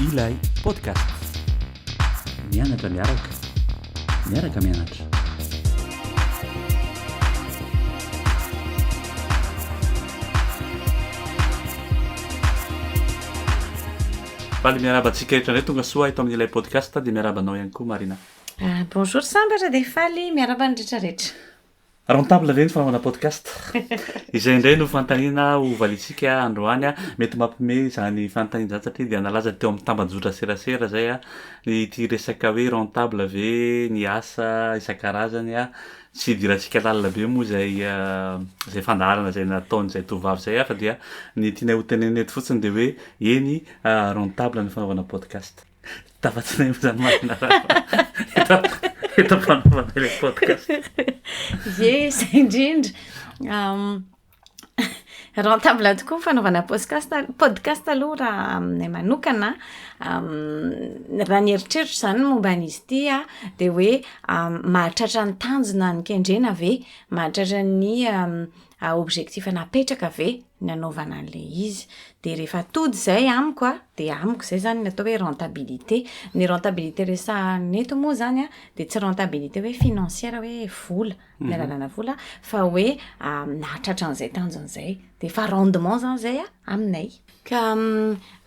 Ilay podcast. Mianatra miaraka. Miaraka mianatra. Faly miaraba antsika rehetra indray tonga soa eto amin'ilay podcast dia miaraba anao ihany koa Marina. Ah, bonjour sambatra dia faly miaraba ny rehetrarehetra. Rentable ve ny fanaovana podcast? Izay indray no fanontaniana ho valiantsika androany. Mety mampihomehy izany fanontaniana izany satria dia nalaza teo amin'ny tambajotra serasera izay ity resaka hoe rentable ve ny asa isan-karazany. Tsy idirantsika lalina be moa izay izay fandaharana izay nataon'izay tovovavy izay fa dia ny tianay hotenenina eto fotsiny dia hoe eny rentable ny fanaovana podcast. Tafatsinay amin'izany marina raha fa eto eto am-panaovana ilay podcast. Ie, izay indrindra. Rentable tokoa ny fanaovana podcast podcast aloha raha aminay manokana. Raha ny eritreritro izany ny momba an'izy ity an, dia hoe mahatratra ny tanjona ny kendrena ve? Mahatratra ny a objectif napetraka ve ny anaovana an'ilay izy dia rehefa tody izay amiko a dia amiko izay izany ny atao hoe rentabilité ny rentabilité resahana eto moa izany a dia tsy rentabilité hoe financière hoe vola mhm. ny alalana vola fa hoe nahatratra an'izay tanjona izay dia efa rendement izany izay a aminay ka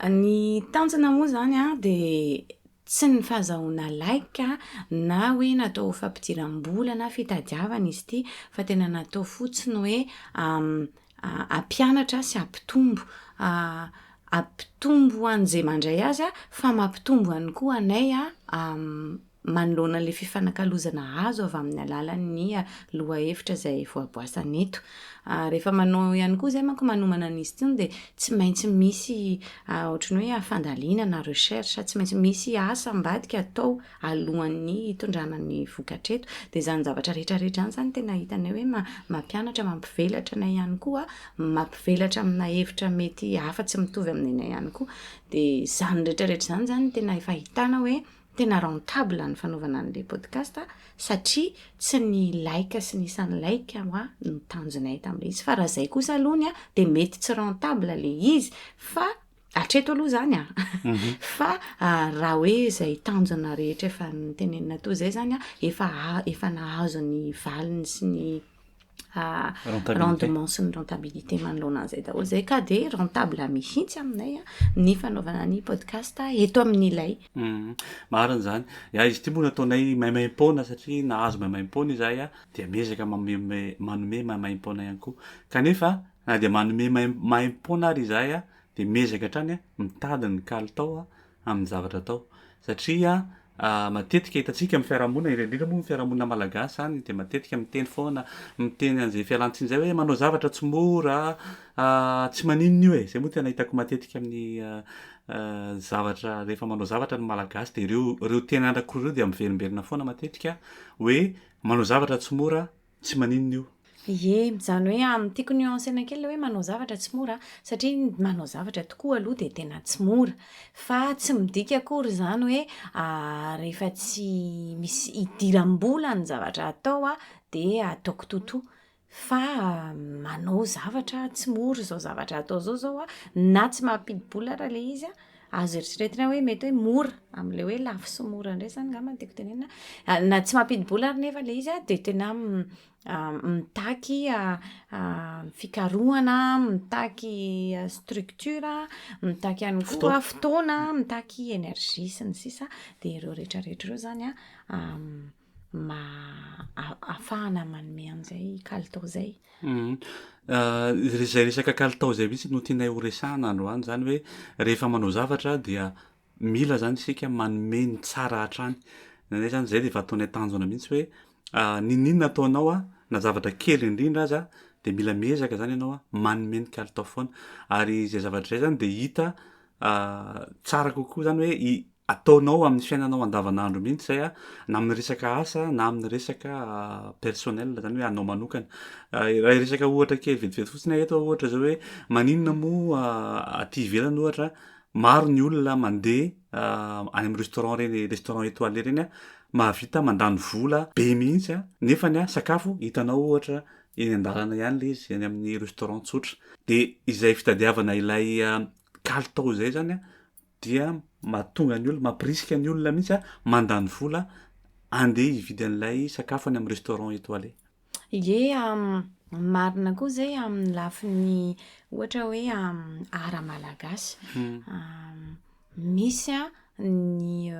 ny tanjona moa izany a dia Tsy ny fahazahoana like na hoe natao ho fampidiram-bola na fitadiavana izy ity fa tena natao fotsiny hoe hampianatra sy hampitombo. Hampitombo ho an'izay mandray azy fa mampitombo ihany koa anay manoloana ilay fifanakalozana azo avy amin'ny alalan'ny lohahevitra izay voaboasana eto. Rehefa manao ihany koa izay manko manomana an'izy itony dia tsy maintsy misy ohatran'ny hoe fandalina na recherche, tsy maintsy misy asa ambadika atao alohan'ny hitondrana ny vokatra eto. Dia izany zavatra rehetrarehetra izany izany tena hitanay hoe mampianatra, mampivelatra anay ihany koa, mampivelatra amina hevitra mety hafa tsy mitovy amin'ny anay ihany koa. Dia izany rehetrarehetra izany izany tena efa ahitana hoe Tena rentable ny fanaovana an'ilay podcast satria tsy ny like sy ny isan'ny like ho'a no tanjonay tamin'ilay izy fa raha izay kosa aloha ny ahy dia mety tsy rentable ilay izy fa hatreto aloha izany an, fa raha hoe izay tanjona rehetra efa notenenina toa izay izany an, efa efa nahazo ny valiny sy ny rendement sy ny rentabilité manoloana an'izay daholo zay ka de rentable mihitsy aminay ny fanaovana ny podcast eto amin'ilay mhm. marina zany ya izy ity moa nataonay maimaim-poana satria nahazo maimaim-poana izay a dia miezaka manome manome maimaim-poana ihany koa kanefa na dia manome maimaim-poana ary izahay a dia miezaka hatrany a mitady ny kalitao a amin'ny zavatra atao satria matetika hitantsika amin'ny fiarahamonina indrindra indrindra moa ny fiarahamonina malagasy izany dia matetika miteny foana miteny an'izay fialantsiny izay hoe manao zavatra tsy mora tsy maninona io e izay moa tena hitako matetika amin'ny zavatra rehefa manao zavatra ny malagasy dia ireo ireo teny andrakoreo dia miverimberina foana matetika hoe manao zavatra tsy mora tsy maninona io. Ye, izany hoe an, tiako nuancena kely le hoe manao zavatra tsy mora an, satria ny manao zavatra tokoa aloha dia tena tsy mora. Fa tsy midika akory izany hoe rehefa tsy misy idiram-bola ny zavatra atao an, dia ataoko totoa. Fa manao zavatra tsy mora izao zavatra atao izao izao an, na tsy mampidi-bola ary ilay izy an, azo eritreretina hoe mety hoe mora amin'ilay hoe lafo sy mora indray izany angamba no tiako tenenina. Ah, na tsy mampidi-bola ary nefa ilay izy ah, dia tena mm, ah, mitaky fikarohana, mitaky structure, mitaky ihany koa fotoana, mitaky énergie sy ny sisa. Dia ireo rehetrarehetra ireo izany an, mba ahafahana manome an'izay kalitao izay. Izay resaka kalitao izay mihitsy no tianay ho resahana androany, izany hoe rehefa manao zavatra dia mila izany isika manome ny tsara hatrany. Ny anay izany izay dia efa ataonay tanjona mihitsy hoe n'inon'inona ataonao na zavatra kely indrindra aza dia mila miezaka izany ianao manome ny kalitao foana. Ary izay zavatra izay izany dia hita tsara kokoa izany hoe ataonao amin'ny fiainanao andavanandro mihitsy zay a, na amin'ny resaka asa na amin'ny resaka personnel zany hoe anao manokana. Raha hiresaka ohatra kely vetivety fotsiny aho eto ohatra zao hoe maninona moa aty ivelany ohatra maro ny olona mandeha any amin'ny restaurant reny restaurant étoilé reny a, mahavita mandany vola be mihitsy a, nefany a sakafo hitanao ohatra eny an-dalana ihany le izy eny amin'ny restaurant tsotra, de izay fitadiavana ilay kalitao izay zany a. dia mahatonga ny olona, mampirisika ny olona mihitsy a, mandany vola andeha hividy an'ilay sakafo any amin'ny restaurant étoilé. Ie, marina koa izay amin'ny lafiny ohatra hoe ara-malagasy. Misy ny.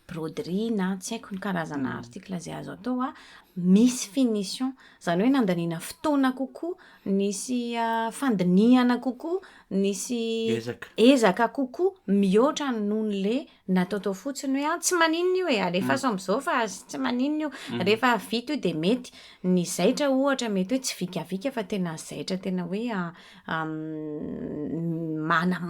broderie na tsy haiko ny karazana article izay azo atao a, misy finition. Izany hoe nandaniana fotoana kokoa, nisy fandinihana kokoa, nisy ezaka kokoa mihoatra noho an'ilay natao tao fotsiny hoe an, tsy maninona io e, alefaso amin'izao fa tsy maninona io, rehefa vita io dia mety. Ny zaitra ohatra mety hoe tsy vikavika fa tena zaitra tena hoe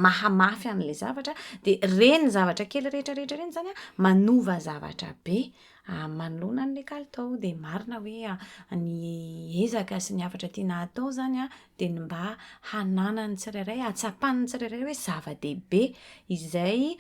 mahamafy an'ilay zavatra dia ireny zavatra kely rehetra rehetra ireny izany an, manova zavatra be manoloana an'ilay kalitao. Dia marina hoe ny ezaka sy ny hafatra tiana hatao izany an, dia ny mba hananan'ny tsirairay, hahatsapan'ny tsirairay hoe zava-dehibe izay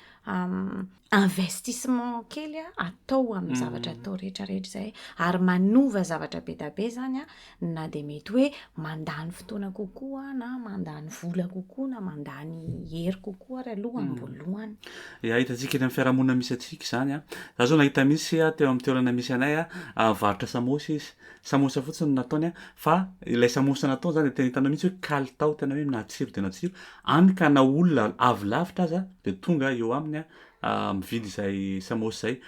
investissement kely a atao amin'ny zavatra atao rehetra rehetra izay ary manova zavatra be da be zany a na dia mety hoe mandany fotoana kokoa na mandany vola kokoa na mandany hery kokoa ary aloha mm. ambolohany ya hitantsika eny amin'ny fiarahamonina misy antsika izany a za zao nahita misy a teo amin'ny toerana misy anay a varotra samosa izy samosa fotsiny nataony a fa ilay samosa nataony zany tena hitanao mihitsy hoe kalitao tena hoe natsiro dia natsiro Any ka na olona avy lavitra aza dia tonga eo aminy mividy izay samôsa izay.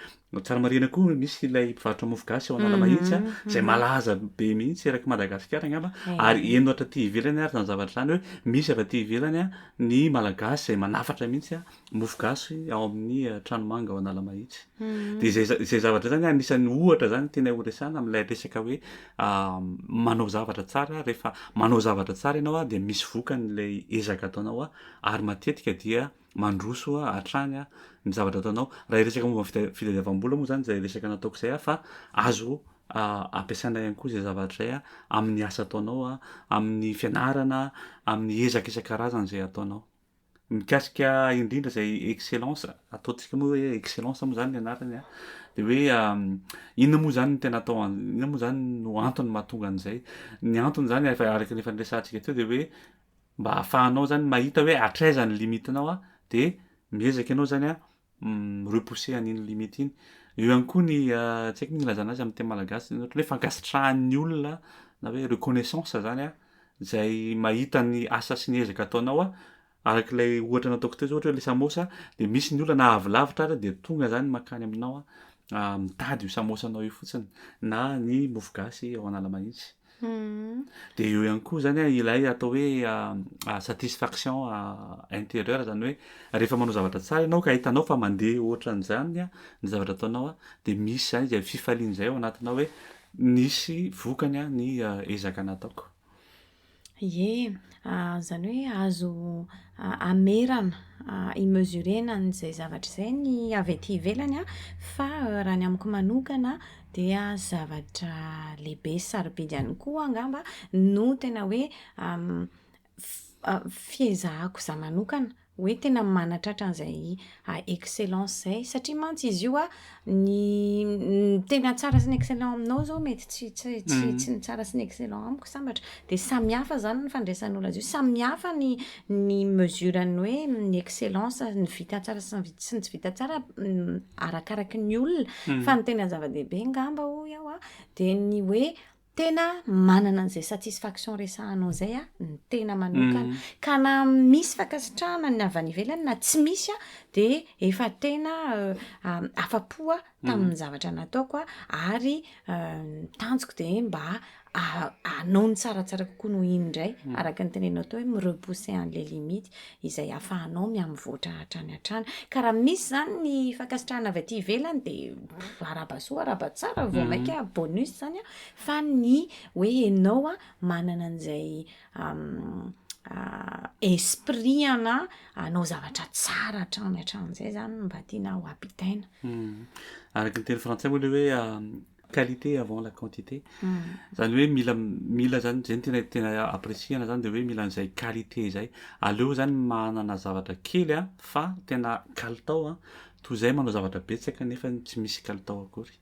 Tsara marihina koa misy ilay mpivarotra mofo gasy ao Analamahitsy a, izay malaza be mihitsy erak'i Madagasikara angamba ary heno hatraty ivelany ary izany zavatra izany hoe misy avy aty ivelany ny Malagasy izay manafatra mihitsy mofo gasy ao amin'ny trano manga ao Analamahitsy. Dia izay izay zavatra izany anisan'ny ohatra izany tianay ho resahana amin'ilay resaka hoe manao zavatra tsara rehefa manao zavatra tsara ianao dia misy vokany ilay ezaka ataonao ary matetika dia mandroso hatrany ny zavatra ataonao. Raha hiresaka momba ny fitadiavam-bola moa izany izay resaka nataoko izay fa azo ampiasaina ihany koa izay zavatra izay amin'ny asa ataonao, amin'ny fianarana, amin'ny ezaka isan-karazany izay ataonao. Mikasika indrindra izay excellence, ataontsika moa hoe excellence moa izany ny anarany an, dia hoe inona moa izany no tena atao, inona moa izany no antony mahatonga an'izay. Ny antony izany efa araka ny efa niresahantsika teo dia hoe mba ahafahanao izany mahita hoe hatraiza ny limitinao dia miezaka ianao izany an, repousser an'iny limite iny. Eo ihany koa ny tsy haiko ny ilazana azy amin'ny teny malagasy ny hoe fankasitrahan'ny olona na hoe reconnaissance zany a izay mahita ny asa sy ny ezaka ataonao a araka ilay ohatra nataoko teo zao ohatra hoe le samosa de misy ny olona na avy lavitra ary de tonga zany makany aminao a mitady io samosanao io fotsiny na ny mofogasy ao Analamahitsy Dia eo ihany koa izany ilay atao hoe satisfaction intérieure, izany hoe rehefa manao zavatra tsara ianao ka hitanao fa mandeha ohatran'izany ny zavatra ataonao dia misy izany izay fifaliana izay ao anatinao hoe nisy vokany ny ezaka nataoko. Ie. Izany hoe azo hamerana, hi-mesurer-na an'izay zavatra izay ny avy aty ivelany an, fa raha ny amiko manokana dia zavatra lehibe sy sarobidy ihany koa angamba no tena hoe fihezahako izaho manokana. hoe tena manatratra an'izay a excellence zay satria mantsy izy io a ny ny tena tsara sy ny excellent aminao zao mety tsy tsy tsy tsy ny tsara sy ny excellent amiko sambatra dia samy hafa zany ny fandraisan'olo azy io samy hafa ny ny mesure ny hoe ny excellence ny vita tsara sy ny vita sy ny tsy vita tsara arakaraky ny olona fa ny tena zava-dehibe ngamba hoy aho a dia ny hoe tena manana an'izay satisfaction resahanao izay a ny tena manokana mm. ka na misy fankasitrahana ny avy any ivelany na tsy misy a de efa tena euh, euh, afapoa tamin'ny mm. zavatra nataoko a ary euh, tanjoko de mba anao ny tsaratsara kokoa noho iny indray mm. araka ny tenenao tao hoe mirepousser an'le limite izay ahafahanao miha-mivoatra hatrany hatrany. Ka raha misy izany ny fankasitrahana avy aty ivelany dia araba soa araba tsara vao mainka bonus izany an, fa ny hoe ianao manana an'izay esprit ana hanao zavatra tsara hatrany hatramin'izay izany no mba tiana ho ampitaina. Araka ny teny frantsay moa ilay hoe qualité avant la quantité zany hoe mila mila zany zay tena tena apprécier-na zany de hoe mila an'izay qualité zay aleo zany manana zavatra kely a fa tena kalitao a toy zay manao zavatra betsaka nefa tsy misy kalitao akory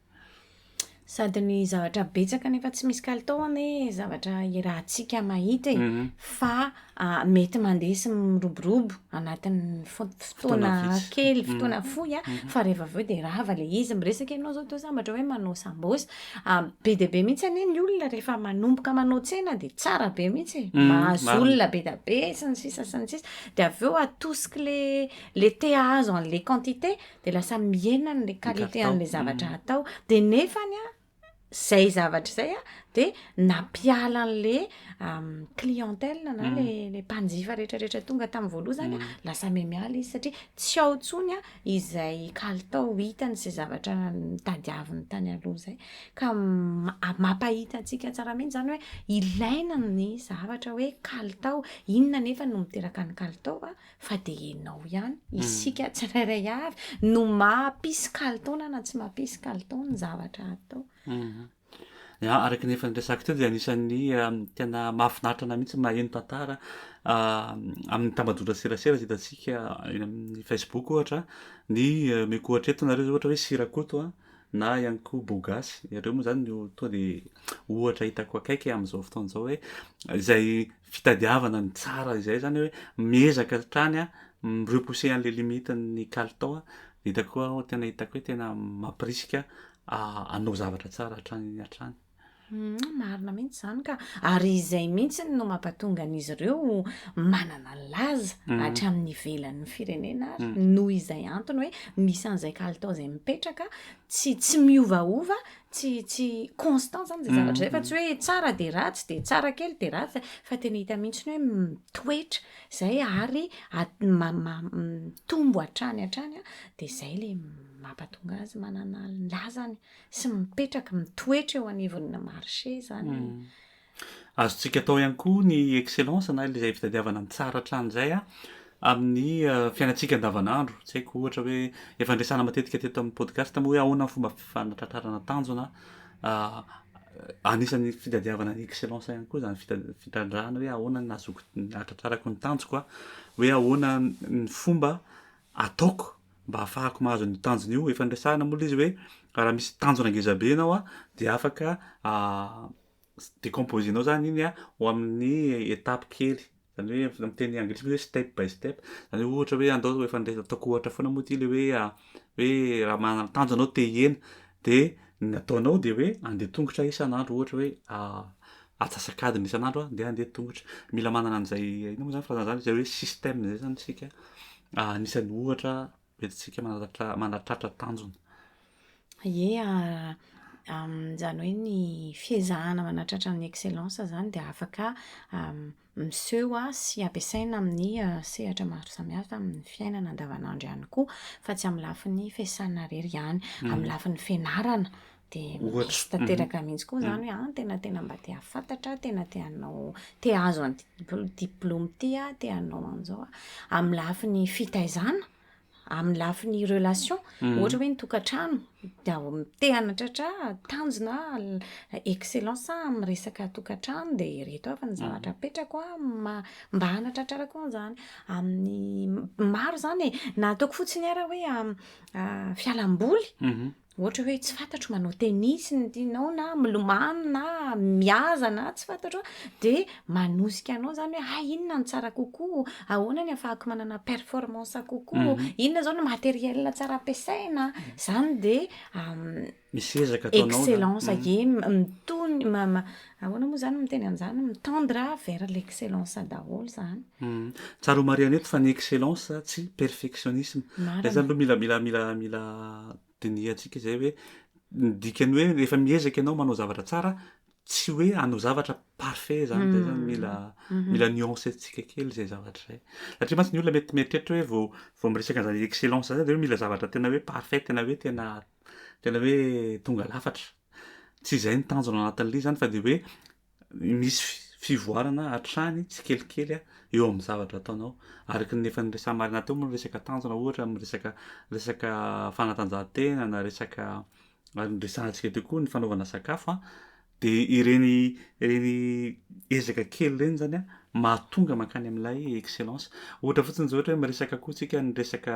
sady ny zavatra betsaka nefa tsy misy kalitao anie zavatra iarahantsika mahita e mhm. fa mety mandeha sy miroborobo anatin'ny fotoana kely, mm. fotoana fohy a, mm-hmm. fa rehefa avy eo dia rava le izy. Miresaka ianao zao toa sambatra hoe manao sambos, be dia be mihitsy anie ny olona rehefa manomboka manao tsena dia tsara be mihitsy, e. mm-hmm. mahazo olona be dia be sy ny sisa sy ny sisa, dia avy eo atosiky le le te hahazo an'le quantité dia lasa mihena an'le qualité an'le zavatra mm-hmm. atao, dia nefany a. zay zavatra zay a de nampiala an'le clientèle na mm. le le mpanjifa rehetrarehetra tonga tamin'ny voaloha zany a mm. lasa memiala izy satria tsy ao tsony a izay kalitao hitany sy zavatra mitadiaviny tany aloha zay ka mampahita antsika tsara mihitsy zany hoe ilaina ny zavatra hoe kalitao inona nefa no miteraka ny kalitao a fa dia ianao ihany, hmm. isika tsirairay avy no mapisy kalitaona na tsy mapisy kalitaona ny zavatra atao. Hmm. Araka ny efa niresako teo dia anisan'ny um, tena mahafinaritra na mihitsy maheno tantara um, amin'ny tambajotra serasera zay hitantsika eny amin'ny Facebook ohatra ny uh, meko ohatra eto nareo zay ohatra hoe sirakoto a na ihany koa bogasy ireo moa zany no toa de ohatra hitako akaiky amin'izao fotoana izao hoe izay fitadiavana ny tsara izay zany hoe miezaka hatrany a mi-repousser an'le limite ny kalitao a de hitako koa aho tena hitako hoe tena mampirisika hanao zavatra tsara hatrany hatrany marina mihitsy zany ka ary izay mihitsy no mampatonga an'izy ireo manana ny laza mhm. hatramin'ny ivelan'ny firenena ary mhm. noho izay antony hoe misy an'izay kalitao izay mipetraka tsy tsy miovaova tsy tsy constant zany zay mm. zavatra zay fa tsy hoe tsara de ratsy de tsara kely de ratsy fa tena hita mihitsy ny hoe mitoetra zay ary mitombo hatrany hatrany a de zay le mampatonga azy manana lazany sy mipetraka mitoetra eo anivon'ny marché zany mm. Azontsika atao ihany koa ny excellence na izay fitadiavana ny tsara hatrany izay amin'ny fiainantsika andavanandro. Tsy haiko ohatra hoe efa niresahana matetika teto amin'ny podcast moa hoe ahoana ny fomba fanatratrarana tanjona anisan'ny fitadiavana ny excellence ihany koa izany fitrandrahana hoe ahoana ny nahazoako nahatratrarako ny tanjoko a, hoe ahoana ny fomba ataoko mba hahafahako mahazo ny tanjona io. Efa niresahana moa ilay izy hoe raha misy tanjona ngeza be ianao dia afaka décomposer-nao zany iny a ho amin'ny étape kely zany hoe amin'ny teny anglisy misy hoe step by step zany hoe ohatra hoe andao efa nde ataoko ohatra foana moa ty le hoe hoe raha manana tanjona anao te hihena de ny ataonao de hoe andeha tongotra isan'andro ohatra hoe atsasak'adiny isan'andro a ndeha andeha tongotra mila manana an'zay inona moa zany firazana zany zay hoe système zay zany isika anisan'ny ohatra bedintsika manatratra tanjona. Ie, izany hoe ny fiezahana manatratra ny excellence izany dia afaka miseho sy ampiasaina amin'ny sehatra maro samihafa amin'ny fiainana andavanandro ihany koa fa tsy amin'ny lafiny fiasana irery ihany. Amin'ny lafiny fianarana. dia misy tanteraka mhm. mihitsy koa izany mhm. hoe an ah, tena tena mba te hahafantatra tena te hanao te hahazo any diplôme ity a te hanao an'izao a amin'ny lafiny fitaizana amin'ny lafiny relation mhm. ohatra hoe ny tokantrano dia te hanatratra tanjona excellence amin'ny resaka tokantrano dia ireto avy ny zavatra apetrako a mba hanatratrarako an'izany amin'ny maro izany e na ataoko fotsiny ara hoe fialamboly Ohatra hoe tsy fantatro manao tennis ny tianao na milomano na mihaza na tsy fantatro a, de manosika anao zany hoe hay inona no tsara kokoa, ahoana ny afahako manana performance kokoa, inona zao no matériel tsara ampiasaina, zany de Misy ezaka ataonao zany. excellence, ie mitony, Ahoana moa izany no miteny an'izany? Mitendre vers l'excellence daholo izany. Tsara homarihina eto fa ny excellence tsy perfectionnisme. Marina. Izay zany aloha mila mila mila mila dinihantsika izay hoe ny dikan'ny hoe rehefa miezaka ianao manao zavatra tsara tsy hoe hanao zavatra parfait zany izay zany mila mila nuancentsika kely izay zavatra izay. Satria mantsy ny olona mety mieritreritra hoe vao vao miresaka an'izany excellence izany dia hoe mila zavatra tena hoe parfait tena hoe tena tena hoe tonga lafatra. Tsy izay ny tanjona anatin'ilay izy zany fa dia hoe misy fivoarana hatrany tsikelikely eo amin'ny zavatra ataonao. Araka ny efa niresahana marina teo moa ny resaka tanjona ohatra amin'ny resaka resaka fanatanjahantena na resaka ary niresahantsika teo koa ny fanaovana sakafo a, dia ireny ireny ezaka kely ireny zany a mahatonga mankany amin'ilay excellence. Ohatra fotsiny izao ohatra hoe miresaka koa tsika ny resaka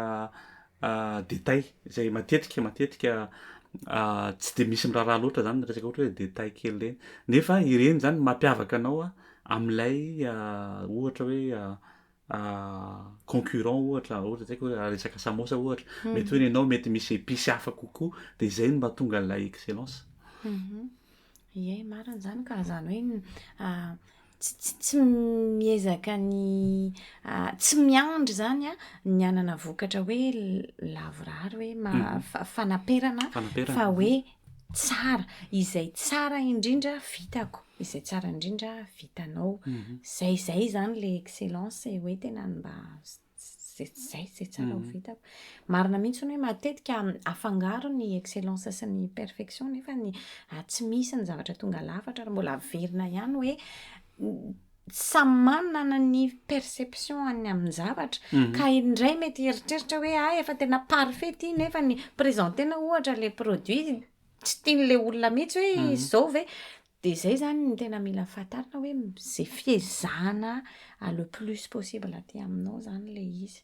détails izay matetika matetika tsy dia misy miraharaha loatra zany resaka ohatra hoe détails kely ireny nefa ireny zany mampiavaka anao amin'ilay ohatra hoe concurrent ohatra ohatra izay hoe resaka samosa ohatra hmm. mety hoe nenao mety misy épices hafa kokoa dia izay no mahatonga an'ilay excellence hmm. Ie, marina izany ka. Izany hoe tsy tsy miezaka ny tsy miandry izany an, ny hanana vokatra hoe lavorary hoe ma mhm. fanaperana fa hoe tsara. Izay tsara indrindra vitako, izay tsara indrindra vitanao. Mhm. Izay izay izany ilay excellence hoe tena mba Zay zay zay tsara ho vitako. Marina mihitsy ny hoe matetika afangaro ny excellence sy ny perfection nefa ny tsy misy ny zavatra tonga lafatra ary mbola averina ihany hoe samy manana ny perception any amin'ny zavatra ka indray mety eritreritra hoe ah efa tena parfait ity nefa ny présenter-na ohatra le produit tsy tian'le olona mihitsy hoe izao ve Dia izay izany no tena mila fantarina hoe izay fiezahana le plus possible aty aminao izany ilay izy.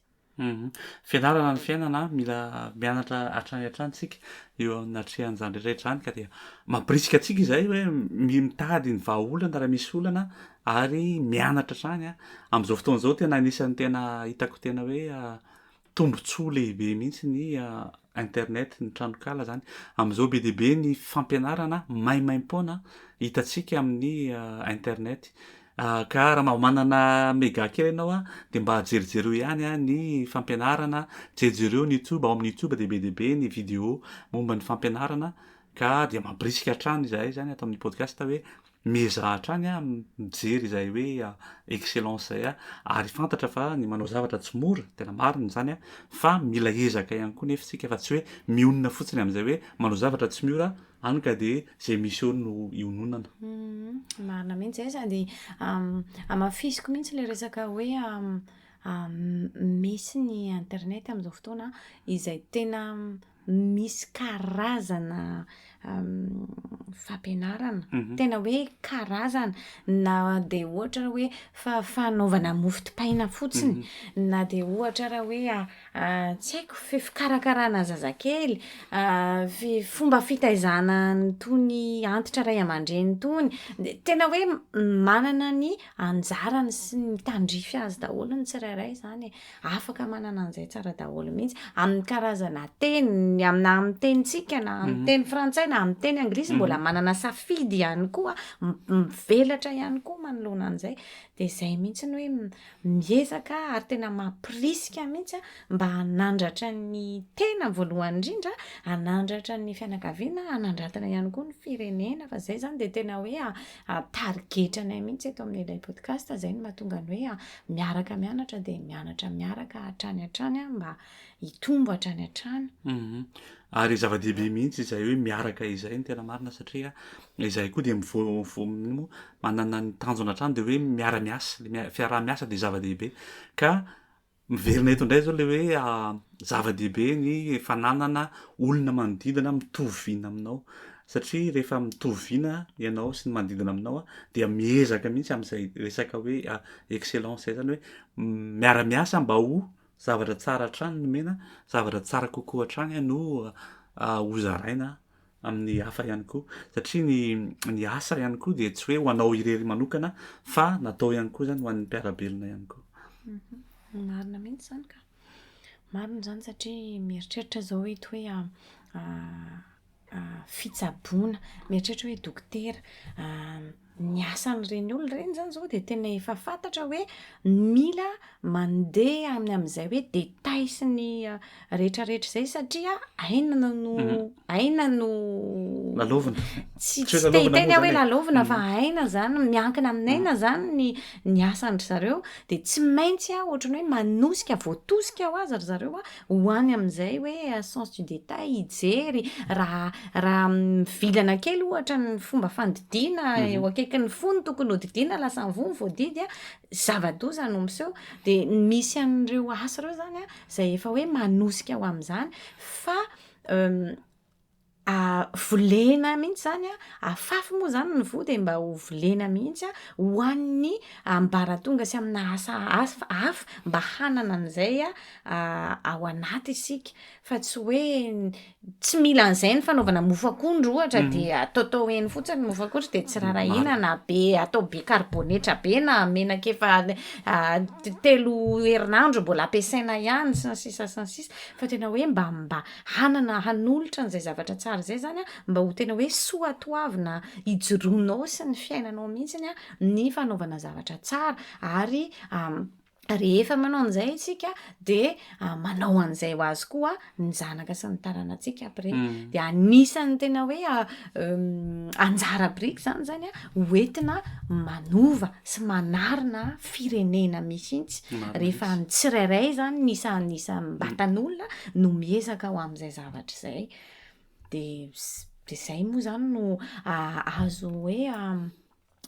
Fianarana ny fiainana, mila mianatra hatrany hatrany isika eo anatrehan'izany rehetra rehetra izany ka dia mampirisika antsika izay hoe mitady ny vahaolana raha misy olana ary mianatra hatrany amin'izao fotoana izao tena anisan'ny tena hitako tena hoe Tombotsoa lehibe mihitsy ny internet, ny tranonkala zany. Amin'izao be dia be ny fampianarana maimaim-poana hitantsika amin'ny internet. Ka raha mba manana mega kely ianao dia mba jerijereo ihany ny fampianarana, jerijereo ny youtube, ao amin'ny youtube dia be dia be ny video momba ny fampianarana ka dia mampirisika hatrany izahay zany ato amin'ny podcast hoe Miezaha hatrany aho mijery izay hoe excellence izay aho ary fantatra fa ny manao zavatra tsy mora, tena marina izany an, fa mila ezaka ihany koa nefa isika fa tsy hoe mionona fotsiny amin'izay hoe manao zavatra tsy miora hany ka dia izay misy eo no iononana. Marina mihitsy izay sady hamafisiko mihitsy ilay resaka hoe misy ny internet amin'izao fotoana izay tena misy karazana fampianarana, tena hoe karazana, na dia ohatra raha hoe fanaovana mofo dipaina fotsiny, na dia ohatra raha hoe tsy haiko, fikarakarana zazakely, fomba fitaizana an'itony antitra ray aman-dreny itony. Dia tena hoe manana ny anjarany sy ny tandrify azy daholo ny tsirairay izany e. Afaka manana an'izay tsara daholo mihitsy. Amin'ny karazana teny, ny am- na amin'ny tenintsika, na amin'ny Mhm. teny frantsay, na amin'ny teny anglisy, Mhm. mbola manana safidy ihany koa, m- mivelatra ihany koa manoloana an'izay. Dia izay mihitsy ny hoe m- miezaka ary tena mampirisika mihitsy mba hanandratra ny tena voalohany indrindra, hanandratra ny fianakaviana, hanandratana ihany koa ny firenena, fa izay izany dia tena hoe a- tarigetranay mihitsy eto amin'ilay podcast, izay no mahatonga ny hoe a- miaraka mianatra dia mianatra miaraka hatrany hatrany a mba hitombo hatrany hatrany mhm. ary zava-dehibe mihitsy izay hoe miaraka izay ny tena marina satria izay koa dia mivovomimo manana ny tanjona hatrany dia hoe miara-miasa le fiaraha-miasa dia zava-dehibe ka miverina eto indray zao le hoe ah, Zava-dehibe ny fananana olona manodidina mitovy vina aminao satria rehefa mitovy vina ianao sy ny manodidina aminao dia miezaka mihitsy amin'izay resaka hoe excellence izay, izany hoe miara-miasa mba ho zavatra tsara hatrany ny omena, zavatra tsara kokoa hatrany no hozaraina amin'ny hafa ihany koa satria ny ny asa ihany koa dia tsy hoe ho anao irery manokana fa natao ihany koa izany ho an'ny mpiara-belona ihany koa. Marina mihitsy izany ka. Marina izany satria mieritreritra aho izao eto hoe fitsaboana, mieritreritra hoe dokotera, ny asan'ireny olona ireny izany izao dia tena efa fantatra hoe mila mandeha any amin'izay hoe détail sy ny rehetrarehetra izay satria aina no, aina no, lalaovina, tsy te hiteny aho hoe lalaovina fa aina izany, miankina amin'aina izany ny asan-dry zareo Dia tsy maintsy a, ohatran'ny hoe manosika, voatosika ho azy ry zareo a, ho any amin'izay hoe sens du détail, hijery, raha raha mivilana kely ohatra ny fomba fandidiana mhm. eo akaikin'ny fony tokony hodidiana, lasa mivony voadidy a, zava-doza no miseho. Dia misy an'ireo asa ireo izany a, izay efa hoe manosika ho amin'izany, fa euh, volena mihitsy izany an, afafy moa izany ny voa dia mba ho volena mihitsy an, ho an'ny ambaratonga sy amina asa hafa hafa mba hanana an'izay ao anaty isika. Fa tsy hoe tsy mila an'izay ny fanaovana mofo akondro ohatra dia ataotao eny fotsiny ny mofo akondro dia tsy rarahina na be atao be karibonetra be na menaka efa telo herinandro mbola ampiasaina ihany sy ny sisa sy ny sisa. Fa tena hoe mba mba hanana hanolotra an'izay zavatra tsara izay izany mba ho tena hoe soatoavina ijoroanao sy ny fiainanao mihitsy ny fanaovana zavatra tsara ary rehefa manao an'izay isika dia manao an'izay ho azy koa ny zanaka sy ny taranatsika après mm. dia anisan'ny tena hoe anjara biriky zany zany a hoentina manova sy manarina firenena mihitsy rehefa ny tsirairay zany nisa nisa mbatan'olona no miezaka ho amin'izay zavatra izay de de zay moa zany no azo hoe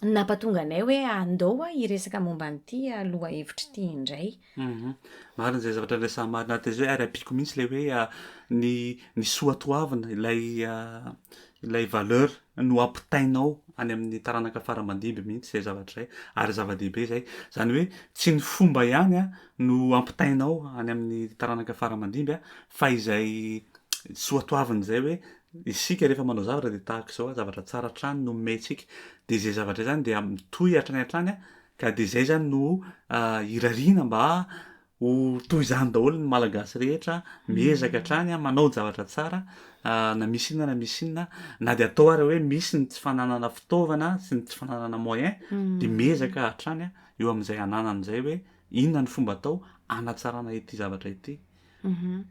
napatonga anay hoe andao a hiresaka momba an'ity lohahevitra ity indray Humm marina zay zavatra resaha marina ato zay ary ampiako mihitsy le hoe ny ny soa toavina ilay ilay valeur no ampitainao any amin'ny taranaka fara aman-dimby mihitsy zay zavatra zay ary zava-dehibe zay zany hoe tsy ny fomba ihany a no ampitainao any amin'ny taranaka fara aman-dimby a fa izay soa toavina zay hoe isika rehefa manao zavatra de tahaka izao a zavatra tsara hatrany no omentsika de zay zavatra zany dia mitohy hatrany hatrany a Ka de zay zany no irariana mba ho toy izany daholo ny Malagasy rehetra, miezaka hatrany an, manao ny zavatra tsara na misy inona na misy inona, na de atao ary hoe misy ny tsy fananana fitaovana sy ny tsy fananana moyen de miezaka hatrany eo amin'izay ananana izay hoe inona no fomba atao hanatsarana ity zavatra ity. Humm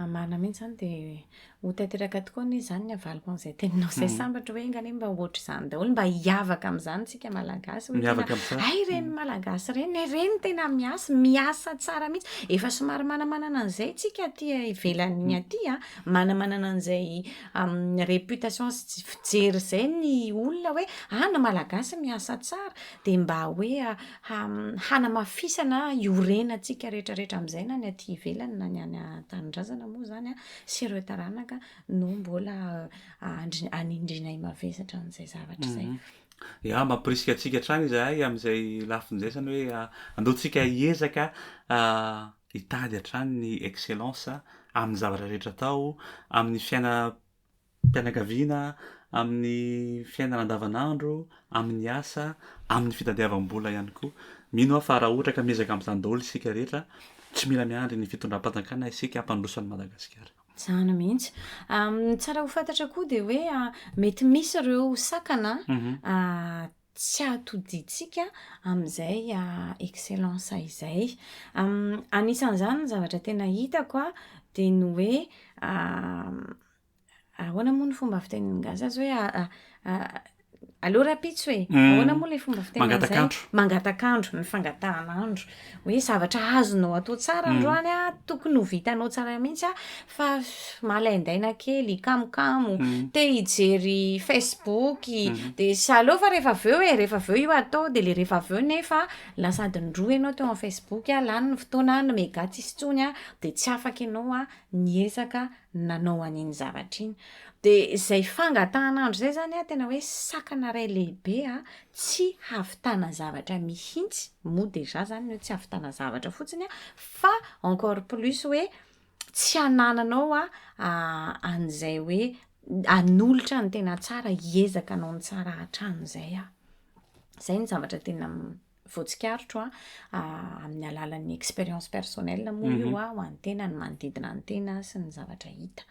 marina mihintsy izany dia ho tanteraka tokoa anie izany ny havaliko an'izay teninao izay sambatra hoe enga anie mba ho ohatr'izany daholo mba hiavaka amin'izany isika malagasy hoe tena hay ireny malagasy ireny e ireny tena miasa miasa tsara mihintsy efa somary manamanana an'izay isika aty ivelany aty a manamanana an'izay amin'ny reputation sy fijery izay ny olona hoe any malagasy miasa tsara dia mba hoe hanamafisana iorenantsika rehetrarehetra amin'izay na ny aty ivelany na ny any an-tanindrazana moa izany an, sy ireo taranaka no mbola anindrinay mavesatra an'izay zavatra izay. Ya, mampirisika antsika hatrany izahay amin'izay lafiny izay, izany hoe aleontsika hiezaka hitady hatrany ny excellence amin'ny zavatra rehetra atao, amin'ny fiainam-. fianakaviana, amin'ny fiainana andavanandro, amin'ny asa, amin'ny fitadiavam-bola ihany koa. Mino aho fa raha ohatra ka miezaka amin'izany daholo isika rehetra, tsy mila miandry ny fitondram-panjakana isika hampandroso an'i Madagasikara. Izany mihitsy. Ny tsara ho fantatra koa dia hoe mety misy ireo sakana tsy hahatodintsika amin'izay excellence izay. Anisan'izany ny zavatra tena hitako dia ny hoe ahoana moa ny fomba fitenin'ny gasy azy hoe aleo rahampitso e! Ahoana moa ilay fomba fiteny an'izay? Mangataka andro. Mangataka andro, ny fangatahan'andro. hoe zavatra azonao atao tsara androany a, tokony ho vitanao tsara mihitsy a, fa malaindaina kely, kamokamo, te hijery Facebook, dia saleo fa rehefa avy eo e, rehefa avy eo io atao, dia ilay rehefa avy eo nefa lasa adiny roa ianao teo amin'ny Facebook, lany ny fotoana, ny mega tsisy intsony a, dia tsy afaka ianao a, ny ezaka nanao an'iny zavatra iny. Dia izay fangatahan'andro izay izany a, tena hoe sakana iray lehibe a, tsy havitana zavatra mihitsy, moa déjà izany ny hoe tsy havitana zavatra fotsiny a, fa encore plus hoe tsy hanananao a, an'izay hoe hanolotra ny tena tsara, hiezaka hanao ny tsara hatrany izay aho. Izay no zavatra tena voatsikaritro a, amin'ny alalan'ny expérience personnelle moa io a, ho an'ny tena, ny manodidina ny tena sy ny zavatra hita.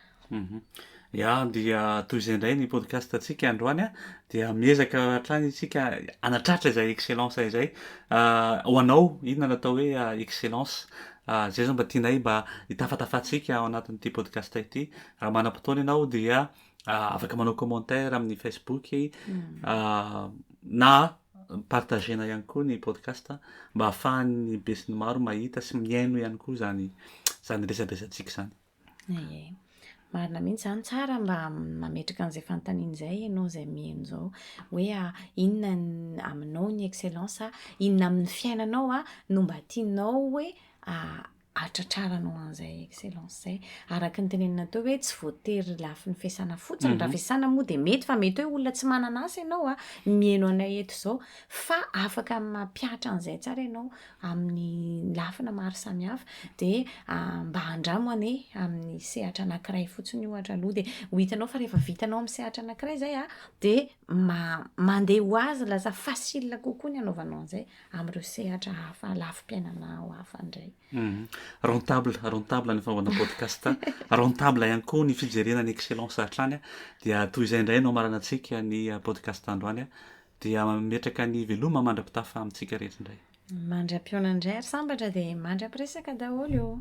Ya, dia toy izay indray ny podcast antsika androany a, dia miezaka hatrany isika hanatratra izay excellence izay. Ho anao, inona no atao hoe excellence? Izay zao mba tianay mba hitafatafantsika ao anatin'ity podcast ity. Raha manam-potoana ianao dia afaka manao commentaire amin'ny Facebook na partagena ihany koa ny podcast mba ahafahan'ny besinimaro mahita sy mihaino ihany koa zany zany resabesantsika zany. Aye. Marina mihitsy zany tsara mba mametraka an'izay fanontaniana izay ianao izay mihaino izao hoe ah, inona ny aminao ny excellence ah, inona amin'ny fiainanao ah, no mba tianao hoe ah, ahatratraranao an'izay excellence izay. Araka ny tenenina teo hoe tsy voatery lafiny fiasana fotsiny, mhm. raha fiasana moa dia mety fa mety hoe olona tsy manana asa ianao a, mihaino anay eto izao fa afaka mampihatra an'izay tsara ianao amin'ny lafina maro samihafa dia ah, mba handramo ane amin'ny sehatra anankiray fotsiny ohatra aloha dia ho hitanao fa rehefa vitanao amin'ny sehatra anankiray izay a dia mandeha ho azy lasa facile kokoa ny anaovanao an'izay amin'ireo sehatra hafa lafim-piainana ao hafa indray. Mhm. Rentable, rentable ny fanaovana podcast, rentable ihany koa ny fijerena ny excellence hatrany. Dia toy izay indray no amaranantsika ny ah, podcast androany. Ah. Dia mametraka ny veloma mandra-pitafa amintsika rehetra indray. Mandra-pionana indray ary sambatra dia mandra-piresaka daholo.